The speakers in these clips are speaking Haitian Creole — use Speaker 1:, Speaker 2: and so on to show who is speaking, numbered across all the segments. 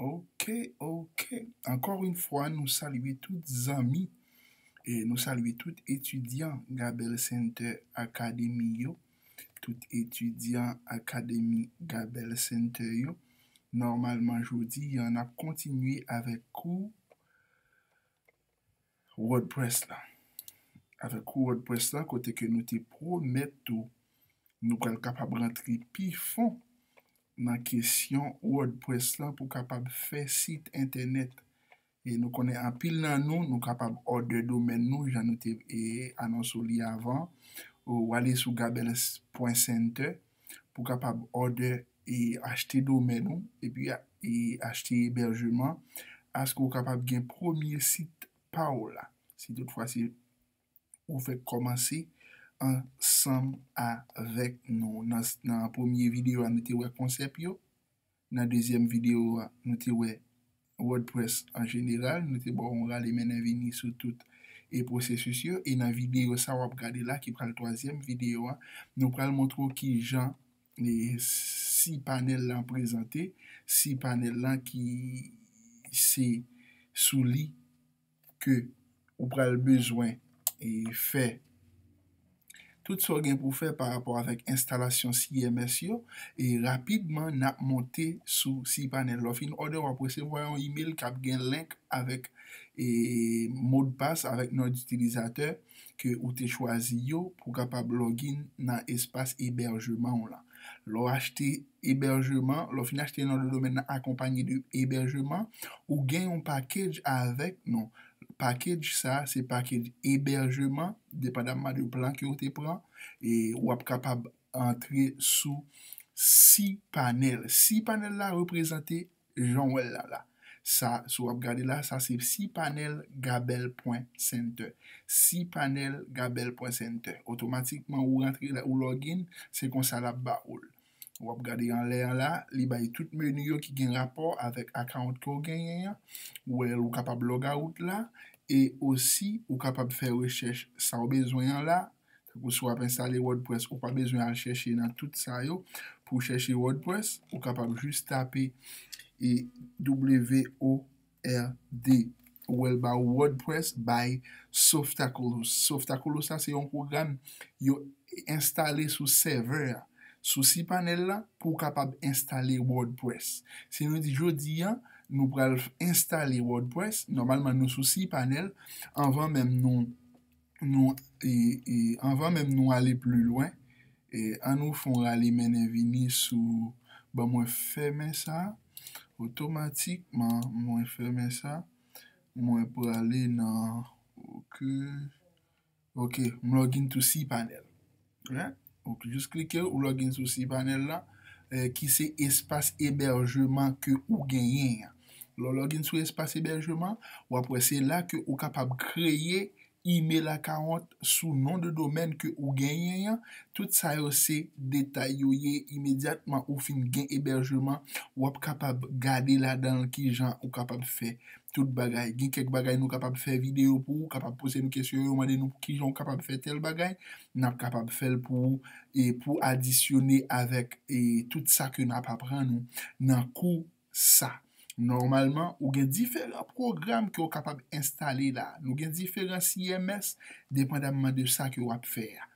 Speaker 1: Ok ok ankò yn fwa nou salye tout zanmi e nou salye tout etidyan Gabèl Center Academy yo tout etidyan akademi Gabèl Center yo nòmalman jodi an n ap kontinye avèk kou Wordpress la. Avèk Wordpress la kote ke nou te pwomèt tou nou pral kapab rantre pi fon nan kesyon Wordpress la pou kapab fè sit entènèt. E nou konnen anpil nan nou, nou kapab òdè domèn nou jan nou te anonso li avan. Ou ale sou gabels pwen center pou kapab òdè e achte domèn ou epi e achte ebèjeman aske ou kapab gen premye sit pa w la si tout fwa se ou fèk kòmanse ansanm avèk nou nan premye videyo a nou te wè konsèp yo Nan dezyèm videyo a, nou te wè WordPress an jeneral, nou te ba w yon rale mennen vini sou tout e pwosesis yo, e nan videyo sa w ap gade la ki pral twazyèm videyo a, nou pral montre w kijan cPanel lan prezante, cPanel lan ki se sou li. ke ou pral bezwen e fè tout sa w gen pou w fè pa rapò avèk enstalasyon CMS yo e rapidman n ap monte sou cPanel. Lè w fin òdè w ap resevwa yon imel k ap gen link avèk e modpas avèk non itilizatè ke ou te chwazi yo pou kapab login nan espas ebèjeman w lan. Lè w achte ebèjeman, lè w fin achte non de domèn nan akonpanye de ebèjeman, ou gen yon pakedj avèk nou. Pakedj sa, se pakedj ebèjeman, depandamman de plan ke ou te pran, e w ap kapab antre sou cPanel. Cpanel la reprezante Janw wèl la la. Sa sou wap gade la sa se si panel gabel pwen center. Si panel gabel pwen center. Otomatikman ou rantre la ou login se konsa lap ba oul. Wap gade anlè an la li bay tout menu yo ki gen rapò avèk account ke w genyen an. Ou wè ou kapab logout la e osi ou kapab fè rechèch sa w bezwen an la Tankou si w ap enstale wordpress ou pa bezwen al chèche nan tout sa yo pou w chèche wordpress ou kapab jis tape e w-o-r-d ou wè l ba ou wordpress by softaculous softaculous la se yon pwogram yo enstale sou sèvè a sou cpanel la pou w kapab enstale wordpress si nou di jodi a nou pral enstale wordpress nòmalman nou sou cpanel anvan menm nou nou anvan menm nou ale pli lwen an nou fon rale mennen vini sou bon mwen fèmen sa otomatikman mwen fèmen sa mwen prale nan ok m login to cpanel. Jis klike ou login sou cPanel la ki se espas ebèjeman ke ou genyen an. Lè w login sou espas ebèjeman, w ap wè se la ke ou kapab kreye email account sou non de domèn ke ou genyen an. Tout sa yo se detay yo ye. Imedyatman ou fin gen ebèjeman, w ap kapab gade ladan l kijan ou kapab fè Tout bagay. Gen kèk bagay nou kapab fè videyo pou ou, kapab poze nou kesyon yo mande nou pou kijan ou kapab fè tèl bagay, n ap kapab fè l pou ou e pou adisyone avèk e tout sa ke n ap aprann ou nan kou sa. Nòmalman, ou gen diferan pwogram ke ou kapab enstale la. Nou gen diferan CMS depandamman de sa ke w ap fè a.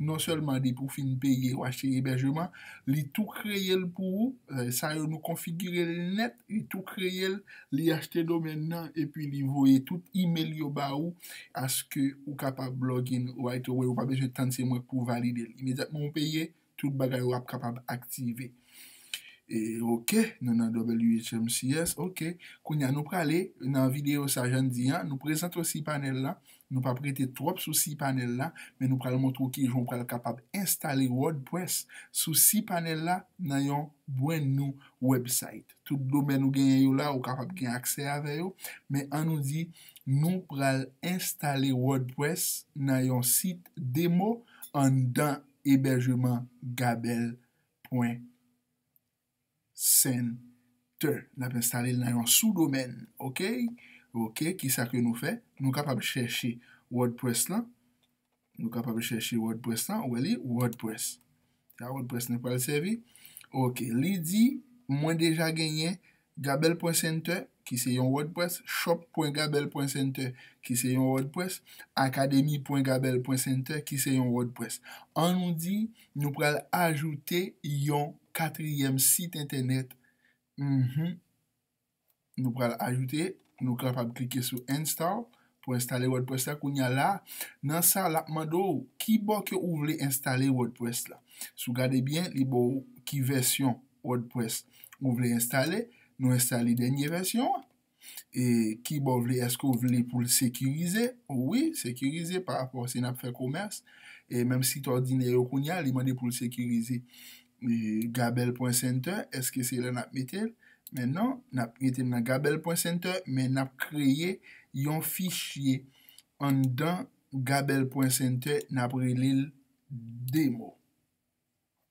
Speaker 1: non sèlman depi ou fin peye ou achte ebèjeman li tou kreye l pou ou sa yo nou konfigire l nèt li tou kreye l li achte domèn nan epi li voye tout imel yo ba ou aske ou kapab login right away ou pa bezwen tann se mwen k pou valide l imedyatman ou peye tout bagay ou ap kapab aktive e ok nou nan WHMCS ok kounya nou prale nan videyo sa jan n di an nou prezante w si panèl la Nou pap rete twòp sou cPanel la, men nou pral montre w kijan w pral kapab enstale WordPress sou cPanel la nan yon brand new website. Tout domèn ou genyen yo la ou kapab gen aksè avè yo, men an nou di nou pral enstale WordPress nan yon sit demo anndan ebèjeman gabelle pwen Center. N ap enstale l nan yon sou domèn. Ok. Ok. Ki sa ke nou fè? Nou kapab chèche wordpress lan. Nou kapab chèche wordpress lan. Ou wè li? Wordpress. Se a wordpress nou pral sèvi. Ok. Li di, mwen deja genyen gabel pwen center ki se yon wordpress, shop pwen gabel pwen center ki se yon wordpress, akademi pwen gabel pwen center ki se yon wordpress. An nou di, nou pral ajoute yon katriyèm sit entènèt mph nou pral ajoute, nou kapab klike sou install pou enstale wordpress la kounya la nan sa lap mande w ki bò ke ou vle enstale wordpress la si w gade byen li ba w ki vèsyon wordpress ou vle enstale nou enstale dènye vèsyon an. e kibò w vle, èske w vle pou l sekirize? Wi, sekirize pa rapò si n ap fè komès, e menm sit òdinè yo kounye a, li mande pou l sekirize. Gabel pwen sentè, èske se la n ap mete l? Men non, n ap mete l nan gabel pwen sentè, men n ap kreye yon fichye anndan gabel pwen sentè, n ap rele l demo.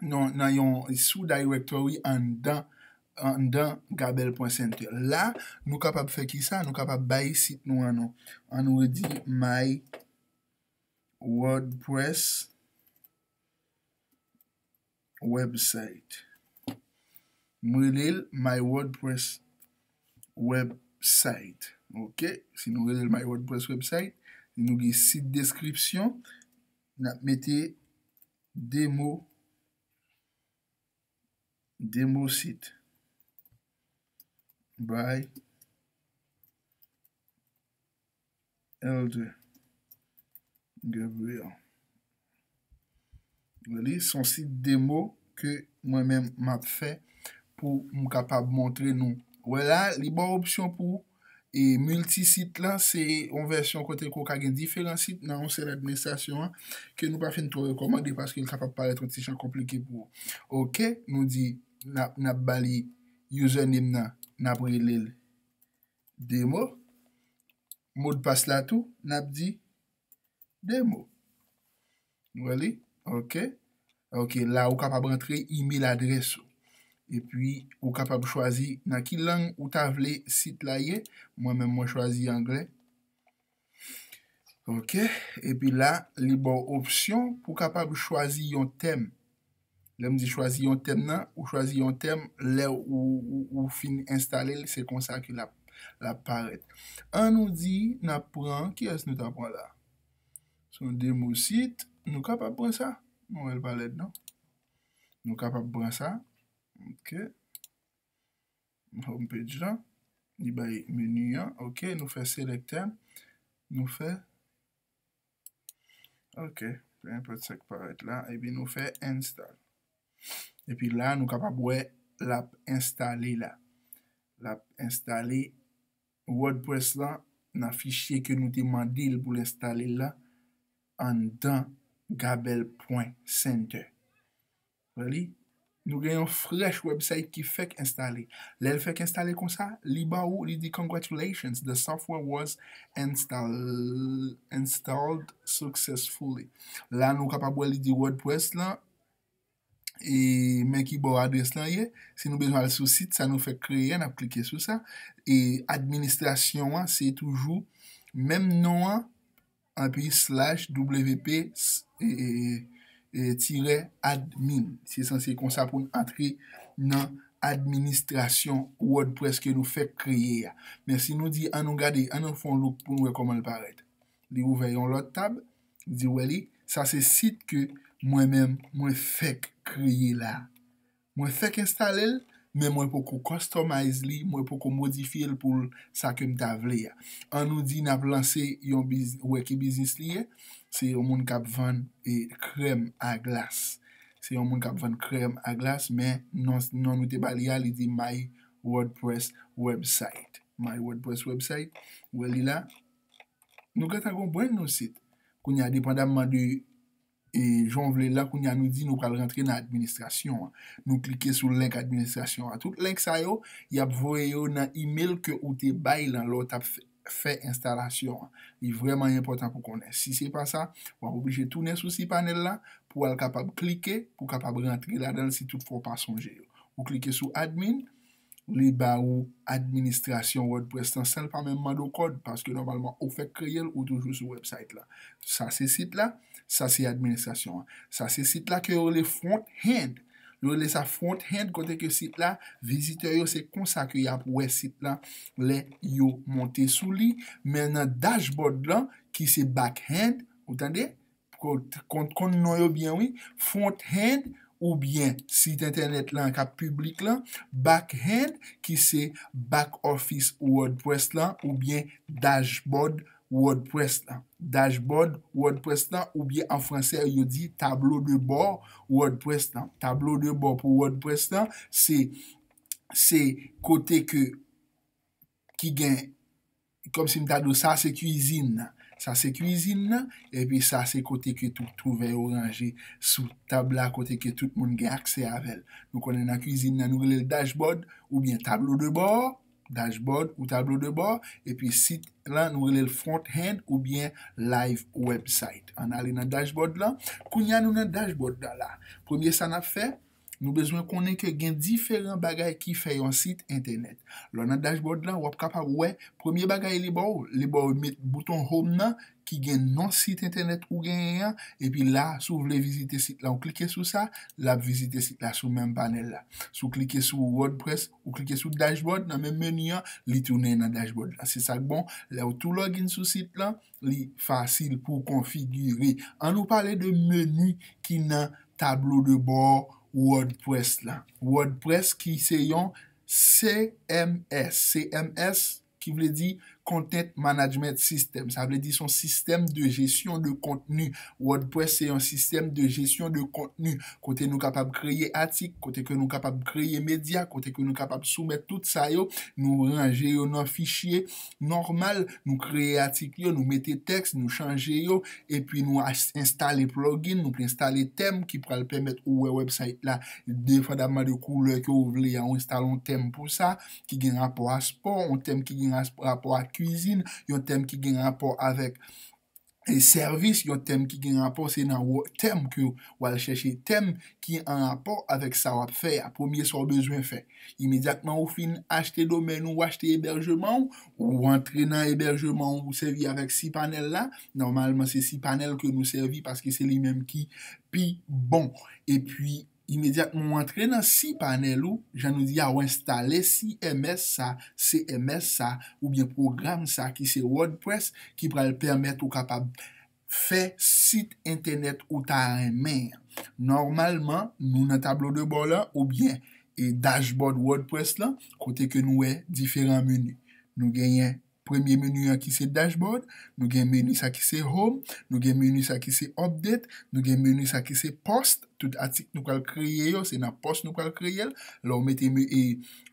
Speaker 1: nan yon sou directory anndan anndan gabel.center la nou kapab fè ki sa nou kapab bay sit nou an non an nou redi my wordpress website m rele l my wordpress website ok si nou rele l my wordpress website nou gen sit description nap mete Demo Demosit by Elder Gabriel Li se yon sit demo ke mwen menm m ap fè pou m kapab montre nou. Wè la, li ba w opsyon pou w E miltisit la se yon vèsyon kote ke w ka gen diferan sit nan yon sèl administrasyon an, ke nou pa fin twò rekòmande paske l kapab parèt yon ti jan konplike pou ou. Ok, nou di n ap ba li username nan, n ap rele l demo. Modpas la tou, n ap di demo. Nou wè li? Ok. Ok, la ou kapab rantre email adrès ou. Epi, ou kapab chwazi nan ki lang ou ta vle sit la ye. Mwen menm mwen chwazi anglè. Ok, epi la, li ba w opsyon pou kapab chwazi yon tèm. Lè m di chwazi yon tèm nan, ou chwazi yon tèm, lè ou fin enstale l, se konsa ke l ap parèt. An nou di n ap pran, kiyès nou ta pran la? Se yon demosit, nou kapab pran sa. M wè l pa lèd non. Nou kapab pran sa. Ok. Home page lan. Li bay menu an. Ok. Nou fè select tèm. Nou fè ok peu importe sa ki parèt la epi nou fè install epi la nou kapab wè lap enstale la lap enstale wordpress la nan fichye ke nou te mandel poul enstale la anndan gabèl pwen sentè Wè li? Nou gen yon fresh website ki fèk enstale. Lè l fèk enstale konsa, li ba ou, li di Congratulations, the software was installed successfully. La nou kapab wè li di wordpress lan, e men ki bò adrès lan ye. Si nou bezwen al sou sit sa nou fèk kreye a, n ap klike sou sa. E administrasyon an se toujou menm non an. Anpi slash wp tirè admin. Se sanse konsa pou n antre nan administrasyon wordpress ke nou fèk kreye a. Men si nou di an nou gade, an nou fè yon look pou n wè kòman l parèt. Li ouvè yon lòt tab, di wè li, sa se sit ke mwen menm mwen fèk kreye la. Mwen fèk enstale l, men mwen poko customize li, mwen poko modifye l pou l sa ke m ta vle a. An nou di n ap lanse yon biz, ou wè ki biznis li ye? Se yon moun k ap vann krèm a glas. Se yon moun k ap vann krèm a glas, men non non nou te ba li a, li di My WordPress website. My WordPress website, ou wè li la? Nou gentan gen yon brand new site. Kounye a depandamman de E jan w vle l la, kounye a nou di nou pral rantre nan administrasyon an. Nou klike sou link administrasyon an. Tout link sa yo, y ap voye yo nan email ke ou te bay lan lè w t ap fè enstalasyon an. Li vrèman enpòtan pou konnen. Si se pa sa, w ap oblije tounen sou cPanel la pou w al kapab klike pou w kapab rantre ladan l si tout fwa w pa sonje yo. Ou klike sou admin. li ba ou administrasyon wordpress lan san l pa menm mande w kòd paske nòmalman ou fèk kreye l ou toujou sou wèbsayt la sa se sit la sa se administrasyon an sa se sit la ke yo rele front end yo rele sa front end kote ke sit la vizitè yo se konsa ke y ap wè sit la lè yo monte sou li men nan dashboard lan ki se back end ou tande Konn non yo byen wi. Fronthand ou byen sit entènèt lan kap piblik lan, Backhand ki se back office wordpress lan ou byen dashboard wordpress lan. Dashboard wordpress lan ou byen an fransè yo di tablo de bò wordpress lan. Tablo de bò pou wordpress lan se kote ke ki gen Kòm si m ta di w sa se kuizin nan. Sa se kuizin nan, epi sa se kote ke tout kouvè yo ranje sou tab la, kote ke tout moun gen aksè avè l. Nou konnen nan kuizin nan nou rele l dashboard oubyen tablo de bò, dashboard ou tablo de bò, epi sit lan nou rele l front end oubyen live website. An n ale nan dashboard lan. Kounye a nou nan dashboard lan la. Premye sa n ap fè. Nou bezwen konnen ke gen diferan bagay ki fè yon sit entènèt. Lè w nan dashboard la, w ap kapab wè, premye bagay li ba w, li ba w met bouton home nan ki gen non sit entènèt ou genyen an, epi la, si w vle vizite sit la, ou klike sou sa, l ap vizite sit la sou menm panèl la. Si w klike sou wordpress, ou klike sou dashboard nan menm meni an, li tounen nan dashboard la. Se sa k bon, lè w tou login sou sit lan, li fasil pou w konfigire. An nou pale de meni ki nan tablo de bò wòdprès la. Wòdprès ki se yon CMS. CMS ki vle di Content Management System. Sa vle di son sistèm de jesyon de kontni. Wòdprès se yon sistèm de jesyon de kontni. Kote nou kapab kreye atik, kote ke nou kapab kreye medya, kote ke nou kapab soumèt tout sa yo. Nou ranje yo nan fichye. nòmal, nou kreye atik yo, nou mete tèks, nou chanje yo, epi nou enstale plugin, nou enstale tèm ki pral pèmèt ou wè wèbsayt la depandamman de koulè ke ou vle a, ou enstale yon tèm pou sa, ki gen rapò a spò, yon tèm ki gen rapò a kwizin, yon tèm ki gen rapò avèk. sèvis yon tèm ki gen rapò se nan wo tèm ke w al chèche tèm ki an rapò avèk sa w ap fè a, premye sa w bezwen fè. Imedyatman ou fin achte domèn ou, ou achte ebèjman ou, ou antre nan ebèjman ou, ou sèvi avèk cPanel la, nòmalman se cPanel ke nou sèvi paske se li menm ki pi bon. Epi, Imedyatman ou antre nan cPanel ou, jan nou di a ou enstale CMS sa, CMS sa, oubyen pwogram sa ki se WordPress ki pral pèmèt ou kapab fè sit entènèt ou ta renmen an. Nòmalman, nou nan tablo de bò lan oubyen dashboard WordPress lan kote ke nou wè diferan menu. Nou genyen Premye menu an ki se Dashboard, nou gen menu sa ki se Home, nou gen menu sa ki se Update, nou gen menu sa ki se Post, tout atik nou pral kreye yo se nan Post nou pral kreye l, lè w mete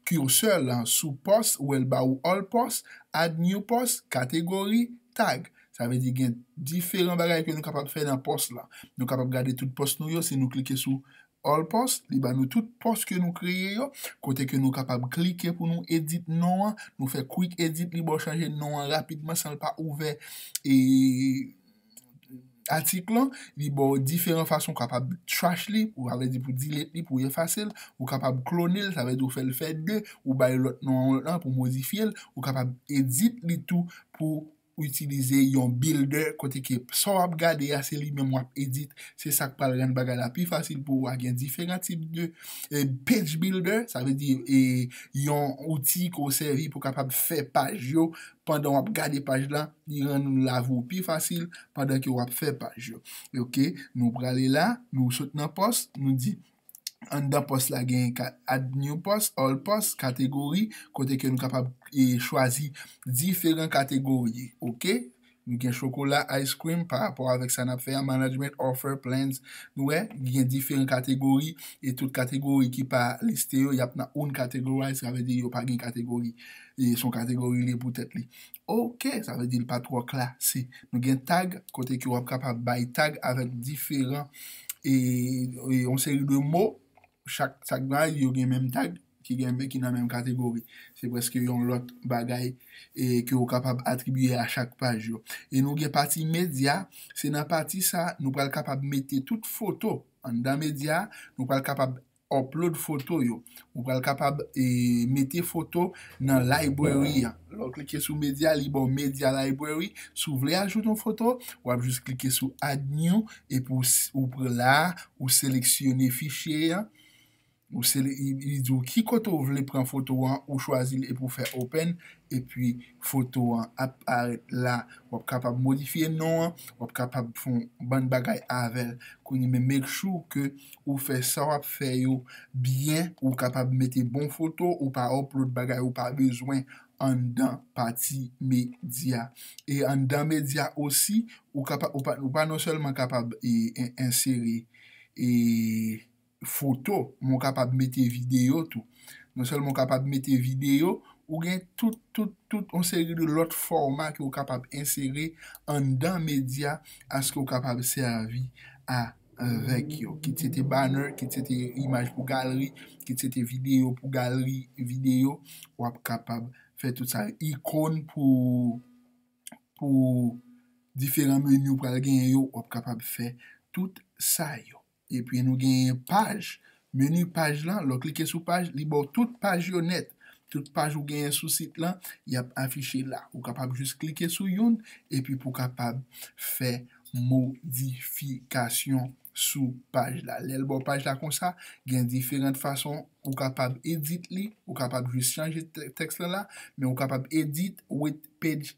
Speaker 1: cursor lan sou Post, ou wè l ba ou All Post, Add New Post, Category, Tag. Sa vle di gen diferan bagay ke nou kapab fè nan Post lan. Nou kapab gade tout Post nou yo si nou klike sou All post, li ba nou tout post ke nou kreye yo, kote ke nou kapab klike pou nou edit non an, nou fè quick edit li baw chanje non an rapidman san l pa ouvè e atik lan, li baw diferan fason ou kapab trash li, ou avle di pou delete li, pou efase l, ou kapab klone l, sa vle di ou fè l fè 2, ou bay lòt non an pou modifye l, ou kapab edit li tou pou. ou itilize yon builder kote ke sa w ap gade a se li menm w ap edit se sa k pral rann bagay la pi fasil pou ou a gen diferan tip de page builder sa vle di yon outil ke w sèvi pou kapab fè paj yo pandan w ap gade paj la li rann lavi w pi fasil pandan ke w ap fè paj yo ok nou prale la nou sot nan post nou di. Anndan pòs la gen Add New Post, All Post, Kategori, kote ke nou kapab chwazi diferan kategori, ok. Nou gen chokola, ice cream, pa rapò avèk sa nap fè a, Management, Offer, Plans, nou wè, li gen diferan kategori, e tout kategori ki pa liste yo, yap nan Uncategorized, sa vle di yo pa gen kategori, son kategori li pou tèt li. Ok sa vle di li pa twò klase. Nou gen tag kote ke wap kapab bay tag avèk diferan e yon seri de mo chak tag la yo gen menm tag ki gen men ki nan menm kategori. Se prèske yon lòt bagay e ke ou kapab atribiye a chak paj yo. E nou gen pati medya, se nan pati sa nou pral kapab mete tout foto anndan medya, nou pral kapab Upload foto yo. Ou pral kapab mete foto nan library an. Lè w klike sou media, li ba w media library. Si w vle ajoute yon foto, w ap jis klike sou add new epi ou pran la a, ou seleksyone fichye an. Li di w ki kote ou vle pran foto an, ou chwazi l epi ou fè open. Epi foto an ap parèt la. W ap kapab modifye non an, w ap kapab fè yon bann bagay avè l. Make sure ke Ou fè sa wap fè yo byen ou kapab mete bon foto ou pa upload bagay ou pa bezwen anndan pati medya e anndan medya osi ou kapab ou pa non sèlman kapab ensere foto men ou kapab mete videyo tou non sèlman ou kapab mete videyo ou gen tout tout tout yon seri de lòt fòma ke ou kapab ensere anndan medya aske ou kapab sèvi a avèk yo. Kit se te banner, kit se te imaj pou galri, kit se te videyo pou galri videyo, w ap kapab fè tout sa yo. Ikon pou diferan meni ou pral genyen yo, w ap kapab fè tout sa yo. Epi nou genyen paj Menu paj lan, lè w klike sou paj, li ba w tout paj yo nèt. Tout paj ou genyen sou sit lan, y ap afiche la. Ou kapab jis klike sou youn epi pou w kapab fè modifikasyon sou paj la. Lè l ba w paj la konsa, gen diferant fason ou kapab edit li. Ou kapab jis chanje tèks lan la, men ou kapab edit with page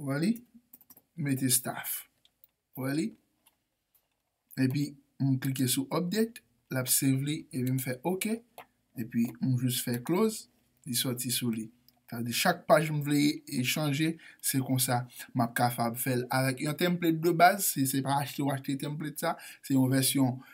Speaker 1: Wè li? Mete staff. Wè li? Epi, m klike sou update, l ap save li, epi m fè ok, epi m jis fè close, li soti sou li. Sa vle di chak paj m vle chanje, se konsa m ap kapab fè l. Avèk yon template de baz, si se pa achte ou achte template sa, se yon vèsyon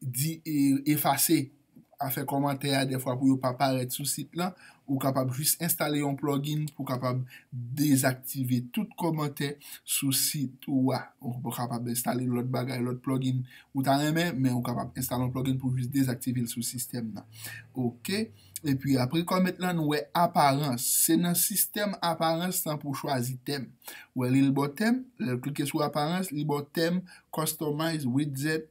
Speaker 1: di efase a fè kòmantè a dèfwa pou yo pa parèt sou sit lan, ou kapab jis enstale yon plugin pou kapab dezaktive tout kòmantè sou sit ou a. Ou kapab enstale lòt bagay, lòt plugin ou ta renmen, men ou kapab enstale yon plugin pou jis dezaktive l sou sistèm nan. Ok. Epi apre comment lan nou wè aparans. Se nan sistèm aparans lan pou w chwazi tèm. Ou wè li l bò tèm, lè w klike sou aparans, li bò tèm, customize, widget.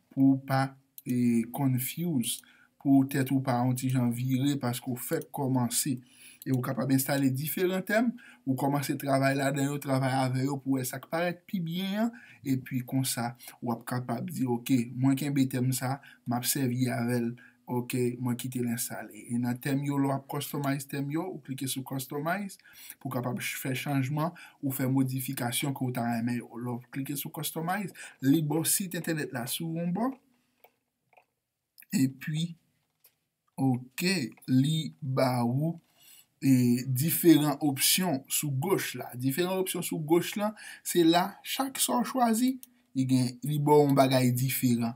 Speaker 1: pou ou pa confuse, pou tèt ou pa yon ti jan vire paske ou fèk kòmanse. E ou kapab enstale diferan tèm, ou kòmanse travay ladan yo, travay avè yo pou wè sa k parèt pi byen an, epi konsa w ap kapab di ok, mwen kenbe tèm sa, m ap sèvi avè l Ok, mwen kite l enstale. E nan tèm yo, lè w ap customize tèm yo, ou klike sou customize pou w kapab fè chanjman ou fè modifikasyon ke w ta renmen yo. Lè w klike sou customize, li ba w sit entènèt la sou yon bò, epi ok, li ba ou diferan opsyon sou goch la. Diferan opsyon sou goch la, se la chak sa w chwazi, li ba w yon bagay diferan.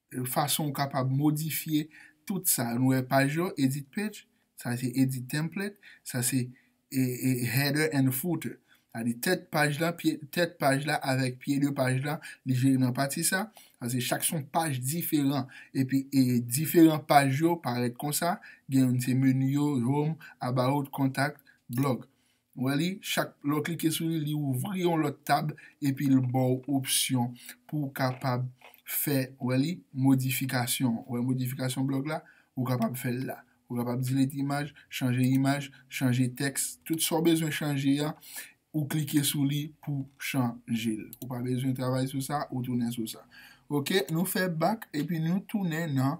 Speaker 1: Fason ou kapab modifye tout sa. Nou wè paj yo, edit page, sa se edit template, sa se header and footer. Sa di tèt paj la, tèt paj la avèk pye de paj la, li jere nan pati sa. Sa se chak son paj diferan. Epi diferan paj yo parèt konsa. Gen youn se menu yo, home, about, contact, blog. Nou wè li, chak lè w klike sou li, li ouvri yon lòt tab epi l ba w opsyon pou w kapab fè, ou wè li, modifikasyon. Ou wè modifikasyon blòg la? Ou kapab fè l la. Ou kapab delete imaj, chanje imaj, chanje tèks, tout sa w bezwen chanje a, ou klike sou li pou w chanje l. Ou pa bezwen travay sou sa, ou tounen sou sa. Ok, nou fè bak epi nou tounen nan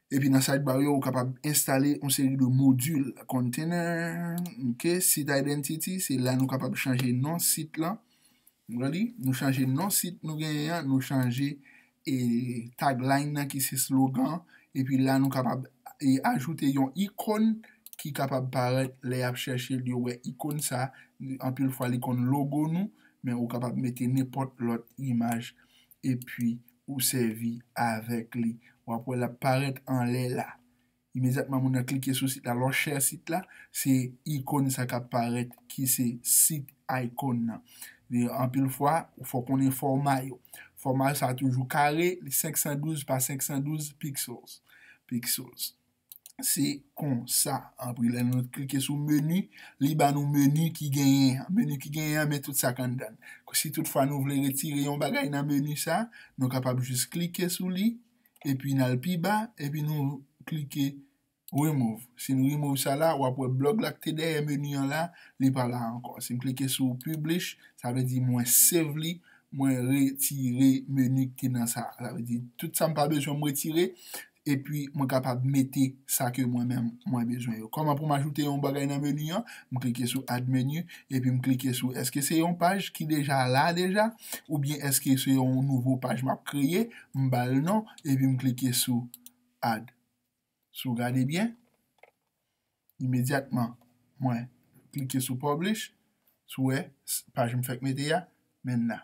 Speaker 1: Epi nan sidebar yo ou kapab enstale yon seri de module, container, ok, site identity, se la nou kapab chanje non site lan, ready, nou chanje non site nou genyen yan, nou chanje e tagline nan ki se slogan, epi la nou kapab e ajoute yon icone ki kapab paret le yap chèche li yo wè icone sa, anpil fwa li konn logo nou, men ou kapab mete nenpot lot imaj epi. Ou sèvi avèk li. W ap wè l ap parèt anlè la. Imedyatman moun nan klike sou sit la, lè w share sit la, se ikon sa k ap parèt ki se sit icon nan. Anpil fwa, ou fò konnen fòma yo. Fòma sa toujou kare, li 512 pa 512 pixels, pixels. Se konsa anpri lè nou klike sou meni, li ba nou meni ki genyen an. Meni ki genyen an men tout sa k anndan l. Si tout fwa nou vle retire yon bagay nan meni sa a, nou kapab jis klike sou li, epi n al pi ba, epi nou klike remove. Si n remove sa la, w ap wè blòg la ki te dèyè meni an la, li pa la ankò. Si m klike sou publish, sa vle di mwen save li, mwen retire meni ki te nan sa a. Sa vle di tout sa m pa bezwen m retire, epi mwen kapab mete sa ke mwen menm mwen bezwen yo. Kòman pou m ajoute yon bagay nan meni an? M klike sou add menu, epi m klike sou èske se yon paj ki deja la deja, oubyen èske se yon nouvo paj m ap kreye, m ba l non, epi m klike sou add. Si w gade byen, imedyatman mwen klike sou publish, si w wè, paj m fèk mete a, men n la.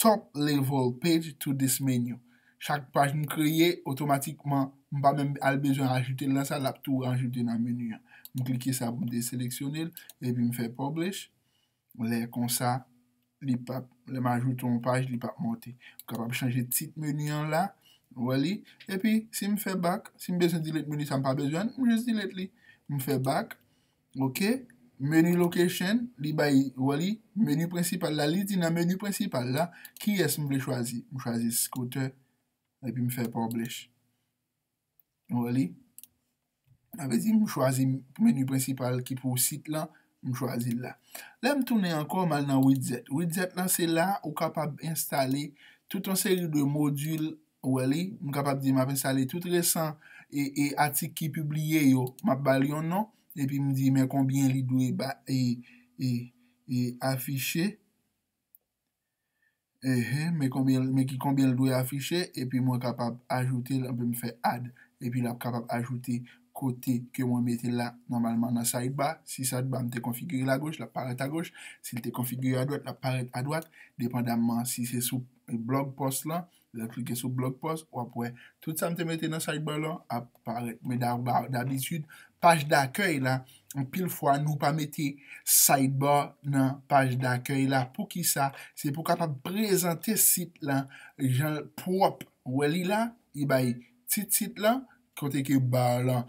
Speaker 1: Top level page to this menu. Chak paj m kreye, otomatikman, m pa menm al bezwen ajoute l nan sa, l ap tou rajoute nan menu an. M klike sa pou m deseleksyone l, epi m fè publish. Lè konsa, li p ap, lè m ajoute yon paj, li p ap monte. M kapab chanje tit menu an la. Ou wè li? Epi, si m fè back, si m bezwen delete menu sa m pa bezwen l, m jis delete li. M fè back. Ok menu location li bay wè li menu prensipal la li di nan menu prensipal la kiyès m vle chwazi m chwazi scooter epi m fè publish nou wè li sa vle di m chwazi menu prensipal ki pou sit lan m chwazi l la lè m tounen ankò m al nan widget widget lan se la ou kapab enstale tout yon seri de module Ou wè li, m kapab di m ap enstale tout resan e atik ki pibliye yo, m ap ba l yon non, epi m di men konbyen li dwe ba e afiche, men ki konbyen l dwe afiche, epi mwen kapab ajoute l, anpi m fè add, epi l ap kapab ajoute kote ke mwen mete l la, nòmalman nan sidebar, si sidebar m te konfigire l agoch, l ap parèt agoch, si l te konfigire adwat, l ap parèt adwat, depandamman si se sou blog post lan. Lè klike sou blog post wap wè tout sa m te mete nan sidebar lan ap parèt men dabitid paj dakèy la anpil fwa nou pa mete sidebar nan paj dakèy la poukisa se pou kapab prezante sit lan jan l pwòp ou wè li la li bay ti tit lan kote ke bar lan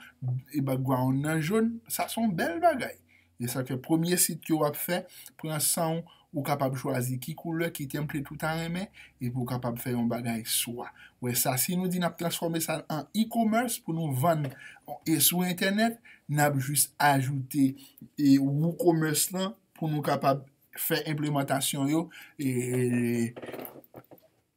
Speaker 1: e background nan jon sa son bèl bagay. Se sa k fè premye sit ke w ap fè, pran san w, ou kapab chwazi ki koulè, ki template ou ta renmen, epi ou kapab fè yon bagay swa. Wè sa, si nou di n ap transfòme sa an e-commerce pou nou vann e sou entènèt, n ap jis ajoute e woocommerce lan pou nou kapab fè enplemantasyon yo e.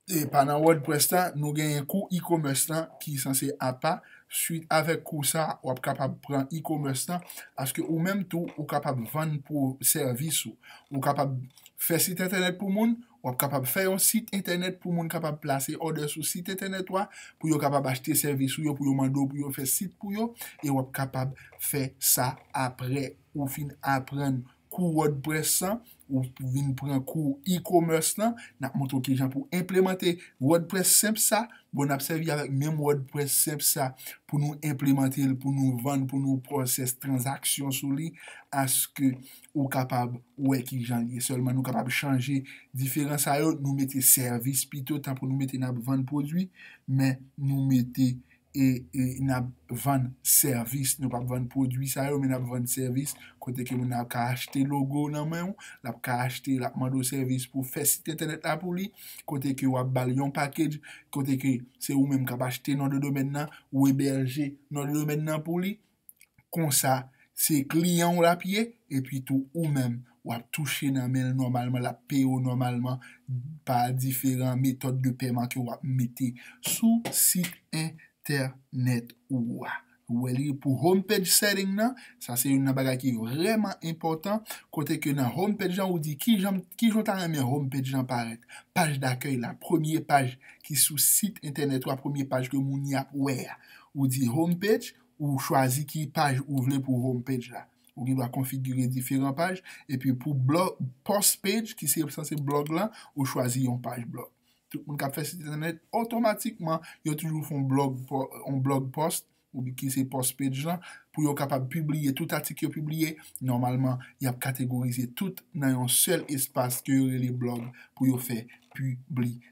Speaker 1: Epa nan wordpress la nou genyen kou e-commerce lan ki sanse apa, swit avèk kou sa wap kapab pran e-commerce lan paske ou menm tou ou kapab vann pro sèvis ou, ou kapab fè sit entènèt pou moun, wap kapab fè yon sit entènèt pou moun kapab plase òdè sou sit entènèt ou a pou yo kapab achte sèvis ou yo pou yo mande w pou yo fè sit pou yo e wap kapab fè sa aprè ou fin aprann kou wordpress lan ou vin pran kou e-commerce lan nap montre w kijan pou enplemante wordpress senp sa bon nap sèvi avèk menm wordpress senp sa pou nou enplemante l pou nou vann pou nou pwosès tranzaksyon sou li aske ou kapab wè kijan l ye sèlman nou kapab chanje diferan sa yo nou mete sèvis pito tankou nou mete nap vann pwodwi men nou mete e n ap vann sèvis, nou p ap vann pwodui sa yo men n ap vann sèvis kote ke moun nan ka achte logo nan men w, l ap ka achte, l ap mande w sèvis pou w fè sit entènèt la pou li, kote ke w ap ba l yon package, kote ke se ou menm k ap achte non de domèn nan, ou ebèje non de domèn nan pou li, konsa se kliyan w l ap ye epi tou ou menm w ap touche nan men l nòmalman, l ap peye w nòmalman pa diferan metòd de peman ke w ap mete sou sit entènèt ou a. Ou wè li pou home page setting nan, sa se youn nan bagay ki vrèman enpòtan, kote ke nan home page lan ou di kijan ou ta renmen home page lan parèt, paj dakèy la, premye paj ki sou sit entènèt ou a, premye paj ke moun y ap wè a, ou di home page, Ou chwazi ki paj ou vle pou home page la. Ou gen dwa konfigire diferan paj. Epi pou blog, post page ki se sanse blog lan, ou chwazi yon paj blog. Tout moun k ap fè sit entènèt, otomatikman, yo toujou fè yon blog, yon blog post, ou bi ki se post page lan, pou yo kapab pibliye tout atik yo pibliye. Nòmalman, y ap kategorize tout nan yon sèl espas ke yo rele blog pou yo fè piblisite.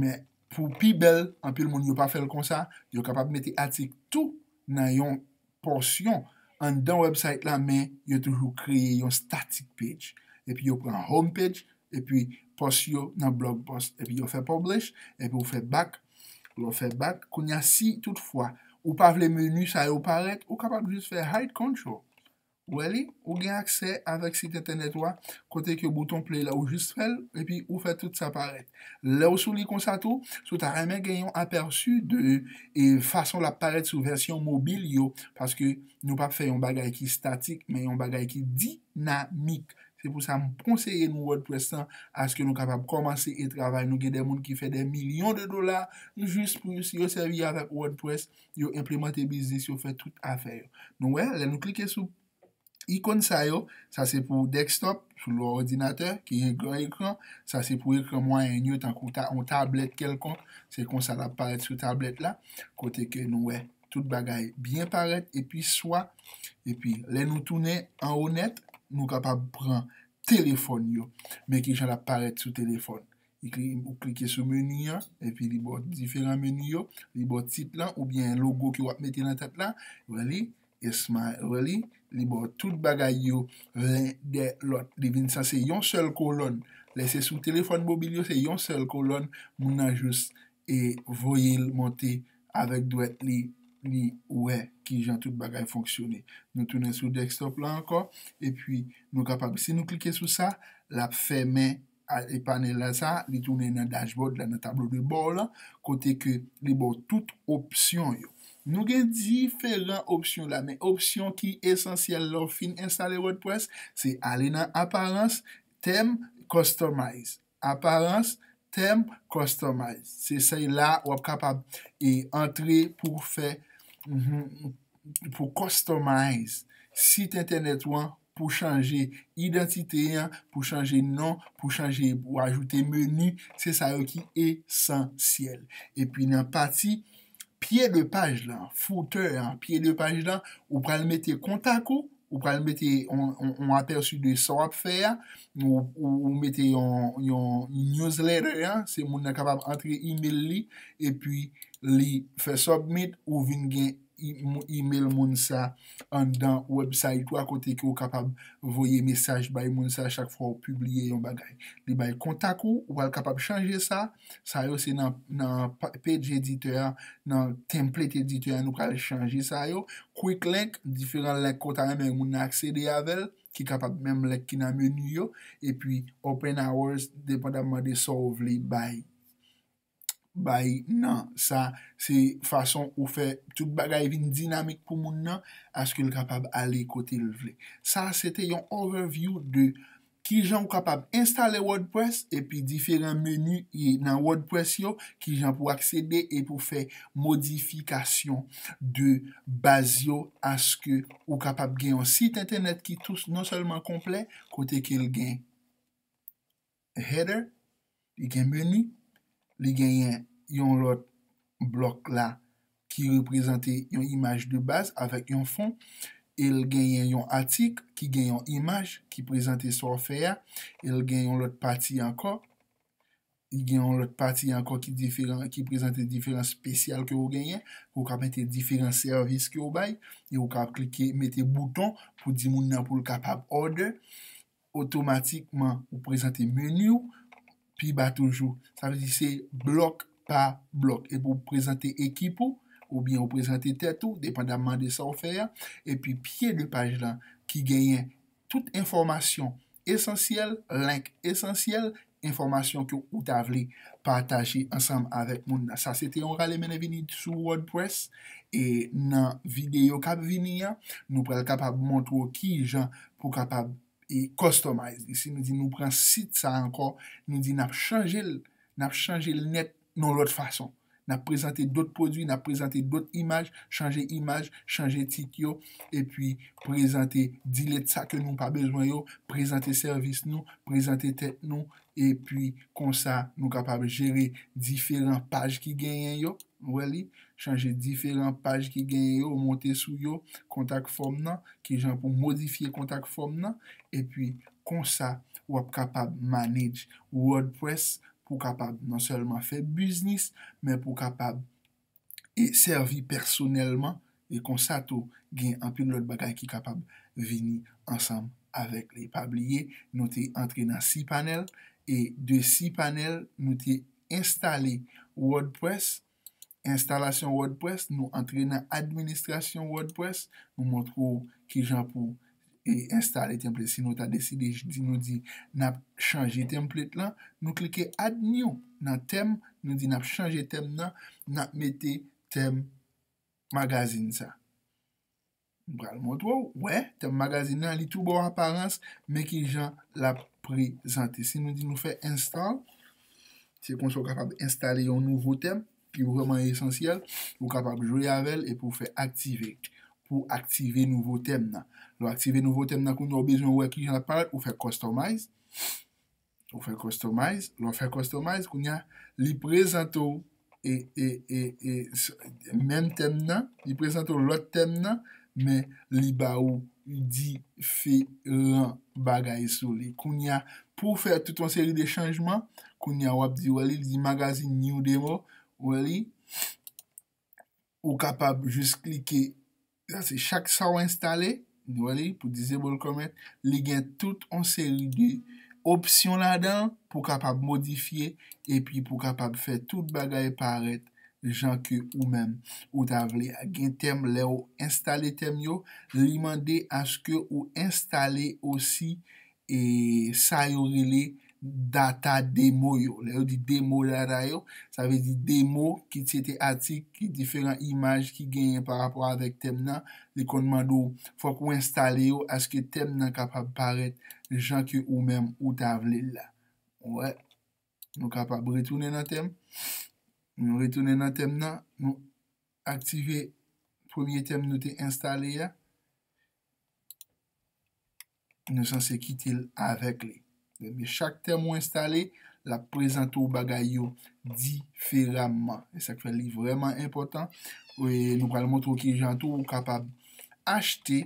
Speaker 1: Men, pou pi bèl, anpil moun yo pa fè l konsa, yo kapab mete atik tou nan yon pòsyon anndan wèbsayt la men yo toujou kreye yon static page. Epi yo pran home page, epi pòs yo nan blog post. Epi yo fè publish, epi ou fè back, lè w fè back, kounye a si tout fwa ou pa vle menu sa yo parèt, ou kapab jis fè hide control. Ou wè li? Ou gen aksè avèk sit entènèt ou a kote ke bouton play la ou jis fèl epi ou fè tout sa parèt. Lèw sou li konsa tou, si w ta renmen gen yon apèsi de e fason lap parèt sou vèsyon mobil yo paske nou pap fè yon bagay ki statik men yon bagay ki dinamik. Se pou sa m konseye nou wordpress lan aske nou kapab kòmanse e travay nou gen de moun ki fè de milyon de dola jis pou yo si yo sèvi avèk wordpress. yo enplemante biznis yo fè tout afè yo. Nou wè, lè nou klike sou ikon sa yo, sa se pou desktop, sou lò òdinatè, ki gen gran ekran, sa se pou ekran mwayèn yo, tankou yon tablèt kèlkonk, se konsa l ap parèt sou tablèt la, kote ke nou wè tout bagay byen parèt, epi swa, epi lè nou tounen anwo nèt, nou kapab pran telefòn yo, men ki jan l ap parèt sou telefòn. Ou klike sou meni an, epi li ba w diferan meni yo, li ba w tit lan oubyen logo ke w ap mete nan tèt la, wè li, esmay, wè li, li ba w tout bagay yo len dè lòt, li vin san se yon sèl kolòn, lè se sou telefòn mobil yo se yon sèl kolòn, moun nan jous e voye l monte avèk dwèt li, li wè ki jan tout bagay fonksyone. Nou tounen sou desktop la ankò, epi nou kapab, si nou klike sou sa, l ap fèmen. e panèl la sa, li tounen nan dashboard la, nan tablo de bò w lan, kote ke li ba w tout opsyon yo. Nou gen diferan opsyon la, men opsyon ki esansyèl lè w fin enstale wordpress, se ale nan aparans, tèm, customize. Aparans, tèm, customize. Se sa y la w ap kapab e antre pou w fè pou customize sit entènèt ou an pou chanje idantite an, pou chanje non, pou chanje pou ajoute meni, se sa yo ki esansyèl. Epi nan pati pye de paj lan, footè an, pye de paj lan, ou pral mete kontak ou, ou pral mete yon apèsi de sa w ap fè a, ou mete yon newsletter an, se moun nan kapab antre email li, epi li fè submit, ou vin gen email moun sa anndan wèbsayit ou a kote ke ou kapab voye mesaj bay moun sa chak fwa ou pibliye yon bagay. Li bay kontak ou, ou pral kapab chanje sa, sa yo se nan page editor a, nan template editor a nou pral chanje sa yo, quick link, diferan link ke ou ta renmen moun nan aksede avè l, ki kapab menm link ki nan menu yo, epi open hours, depandamman de sa ou vle bay. bay nan sa se fason ou fè tout bagay vin dinamik pou moun nan aske l kapab ale kote l vle. Sa se te yon overview de kijan ou kapab enstale wordpress epi diferan menu nan wordpress yo, kijan pou aksede e pou fè modifikasyon de baz yo aske ou kapab gen yon sit entènèt ki non sèlman konplè kote ke l gen. header li gen menu li genyen yon lòt blòk la ki reprezante yon imaj de baz avèk yon fon el genyen yon atik ki gen yon imaj ki prezante sa w fè a el gen yon lòt pati ankò li gen yon lòt pati ankò ki diferan ki prezante diferan spesyal ke ou genyen ou ka mete diferan sèvis ke ou bay e ou ka klike mete bouton pou di moun nan pou l kapab order otomatikman ou prezante meni ou pi ba toujou. Sa vle di se blòk pa blòk. Epi ou prezante ekip ou, oubyen ou prezante tèt ou, depandamman de sa ou fè a. Epi pye 2 paj lan ki genyen tout enfòmasyon esansyèl, link esansyèl, enfòmasyon ke ou ta vle pataje ansanm avèk moun nan. Sa se te yon rale mennen vini sou wordpress e nan videyo k ap vini an, nou pral kapab montre w ki jan pou w kapab e customize li. Si nou di nou pran sit sa ankò, nou di n ap chanje l, n ap chanje l nèt Yon lòt fason. N ap prezante dòt pwodui, n ap prezante dòt imaj, chanje imaj, chanje tit yo, epi prezante dilèt sa ke nou pa bezwen yo, prezante sèvis nou, prezante tèt nou, epi konsa nou kapab jere diferan paj ki genyen yo, nou wè li, chanje diferan paj ki genyen yo, monte sou yo, kontak fòm nan, kijan pou modifye kontak fòm nan, epi konsa w ap kapab manage wordpress pou w kapab non sèlman fè biznis, men pou w kapab e sèvi pèsonèlman, e konsa tou gen anpil lòt bagay ki kapab vini ansanm avèk li. Pa bliye nou te antre nan cPanel e de cPanel nou te enstale Wordpress, Enstalasyon WordPress, nou antre nan administrasyon WordPress, nou montre w kijan pou enstale template si nou ta deside di nou di nap chanje template lan, nou klike add new nan tèm, nou di nap chanje tèm nan, nap mete tèm magazine sa. M pral montre w, wè, tèm magazin nan, li tou ba w aparans, men ki jan l ap prezante. Si nou di nou fè install, se konsa ou kapab enstale yon nouvo tèm ki vrèman esansyèl, ou kapab jwe avè l epi ou fè activate pou w aktive nouvo tèm nan. Lè w aktive nouvo tèm nan, kounya ou bezwen wè ki jan l ap parèt, ou fè customize. Ou fè customize, lè w fè customize kounya li prezante w menm tèm nan, li prezante w lòt tèm nan men li ba ou diferan bagay sou li. Kounya pou w fè tout yon seri de chanjman, kounya w ap di wè li, li di magazine new demo, wè li. Ou kapab jis klike la se chak sa ou enstale nou wè li pou disable comment li gen tout yon seri de opsyon ladan pou kapab modifye epi pou kapab fè tout bagay parèt jan ke ou menm ou ta vle a gen tèm lè ou enstale tèm yo li mande aske ou enstale osi sa yo rele data demo yo. Lè yo di demo data yo, sa vle di demo ki se te atik, ki diferan imaj ki genyen pa rapò avèk tèm nan, li konn mande ou, fòk ou enstale yo aske tèm nan kapab parèt jan ke ou menm ou ta vle l la. Wè, nou kapab retounen nan tèm. Nou retounen nan tèm nan, nou aktive premye tèm nou te enstale a. nou sanse kite l avèk li. Ebyen, chak tèm ou enstale, l ap prezante w bagay yo diferamman. E sa k fè li vrèman enpòtan. E nou pral montre w ki jan tou ou kapab achte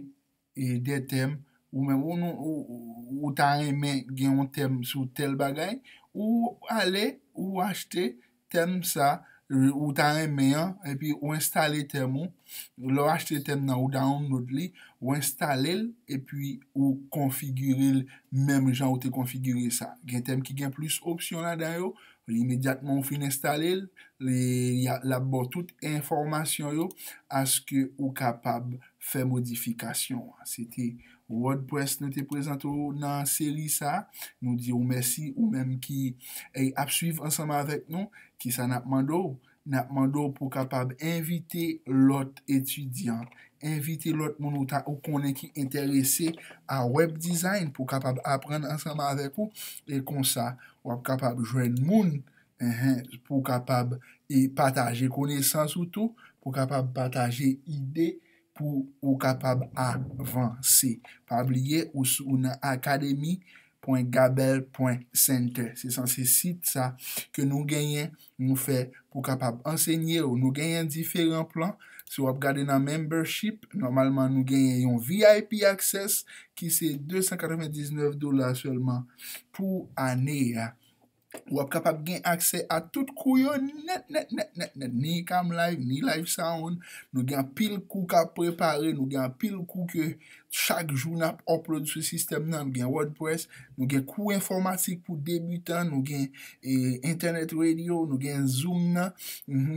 Speaker 1: de tèm ou menm ou ta renmen gen yon tèm sou tèl bagay, ou ale ou achte tèm sa ou ta renmen an epi ou enstale tèm ou lè w achte tèm nan ou download li ou enstale l epi ou konfigire l menm jan ou te konfigire sa gen tèm ki gen plis opsyon ladan yo imedyatman ou fin enstale l l ap ba w tout enfòmasyon yo aske ou kapab fè modifikasyon an se te Wordpress nou te prezante w nan seri sa, nou di w mèsi ou menm ki ap swiv ansanm avèk nou. Kisa n ap mande w? N ap mande w pou w kapab envite lòt etidyan, envite lòt moun ou konnen ki enterese a web design pou kapab aprann ansanm avèk ou e konsa w ap kapab jwenn moun pou w kapab pataje konesans ou tou, pou w kapab pataje ide pou ou kapab avanse. Pa bliye ou sou ou nan academy pwen gabel pwen center. Se san se sit sa ke nou genyen nou fè pou kapab ansenye ou. Nou genyen diferan plan. Si w ap gade nan membership, nòmalman nou genyen yon vip access ki se 299 dola sèlman pou ane a. Ou ap kapab gen aksè a tout kou yo nèt nèt nèt nèt nèt ni ICAM live ni live sound nou gen anpil kou kap prepare nou gen anpil kou ke chak jou nap upload sou sistèm nan nou gen wordpress nou gen kou enfòmatik pou debutan nou gen internet radio nou gen zoom nan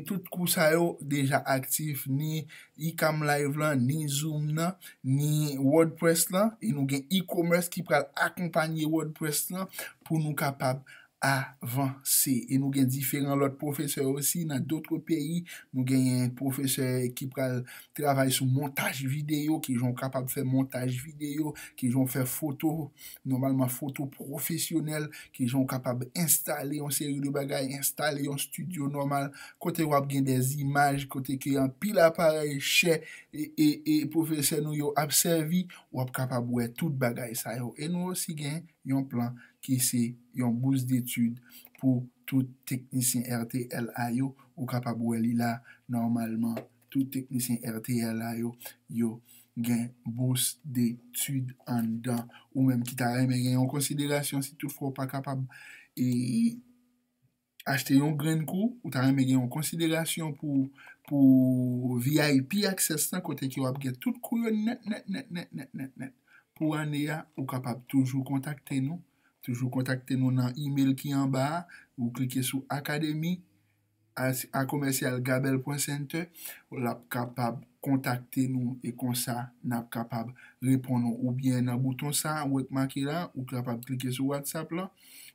Speaker 1: tout kou sa yo deja aktif ni Icam live la, ni zoom nan, ni wordpress la, e nou gen e-commerce ki pral akonpanye wordpress la pou nou kapab avanse. E nou gen diferan lòt pwofesè osi nan dotre peyi, nou genyen pwofesè ki pral travay sou montaj videyo, kijan ou kapab fè montaj videyo, kijan ou fè foto, Nòmalman foto pwofesyonèl, kijan ou kapab enstale yon seri de bagay, enstale yon stidyo nòmal, kote wap gen de zimaj, kote ke anpil aparèy chè e pwofesè nou yo ap sèvi, wap kapab wè tout bagay sa yo. E nou osi gen yon plan ki se yon bous detid pou tout teknisyen RTLA yo, ou kapab wè li la nòmalman. Tout teknisyen rtl a yo, yo gen bous detid anndan. Ou menm ki ta renmen gen yon konsiderasyon si tout fwa ou pa kapab achte yon grenn kou, ou ta renmen gen yon konsiderasyon pou vip access lan kote ke w ap gen tout kou yo nèt nèt nèt nèt nèt nèt nèt pou ane a, ou kapab toujou kontakte nou. Toujou kontakte nou nan email ki anba a, ou klike sou akademi, a commercial gabel pwen center ou lap kapab kontakte nou e konsa nap kapab reponn ou ou byen nan bouton sa ou wè k make la ou kapab klike sou whatsapp lan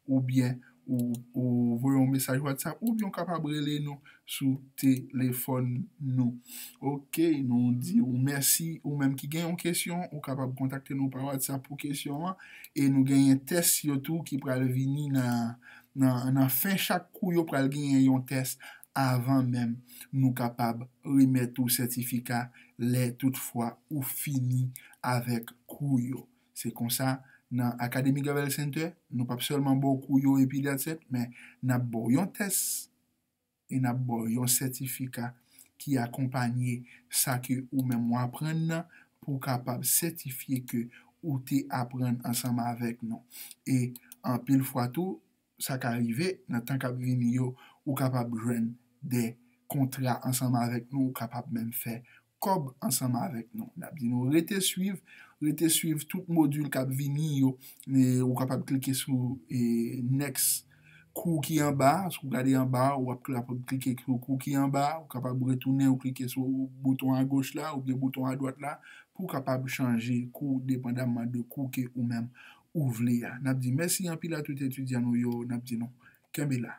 Speaker 1: ou byen ou voye yon mesaj whatsapp ou byen ou kapab rele nou sou telefòn nou ok nou di ou mèsi ou menm ki gen yon kesyon ou kapab kontakte nou pa whatsapp pou kesyon an e nou genyen tès yo tou ki pral vini nan Nan fen chak kou yo pral genyen yon tès avan menm nou kapab remèt ou sètifika lè tout fwa ou fini avèk kou yo. Se konsa nan Academy Gravel Center nou pap sèlman ba w kou yo epi that's it men nap ba w yon tès. e n ap ba w yon sètifika ki akonpanye sa ke ou menm ou aprann nan pou w kapab sètifye ke ou te aprann ansanm avèk nou. E anpil fwa tou, sa ka rive nan tan k ap vini yo, ou kapab jwenn de kontra ansanm avèk nou, ou kapab menm fè kòb ansanm avèk nou. N ap di nou rete swiv, rete swiv tout modul k ap vini yo. Ou kapab klike sou next kou ki anba a, si w gade anba a, w ap kapab klike sou kou ki anba a, ou kapab retounen ou klike sou bouton agoch la oubyen bouton adwat la pou w kapab chanje kou depandaman de kou ke ou menm ou vle a. N ap di mèsi anpil a tout etidyan nou yo, n ap di nou kenbe la.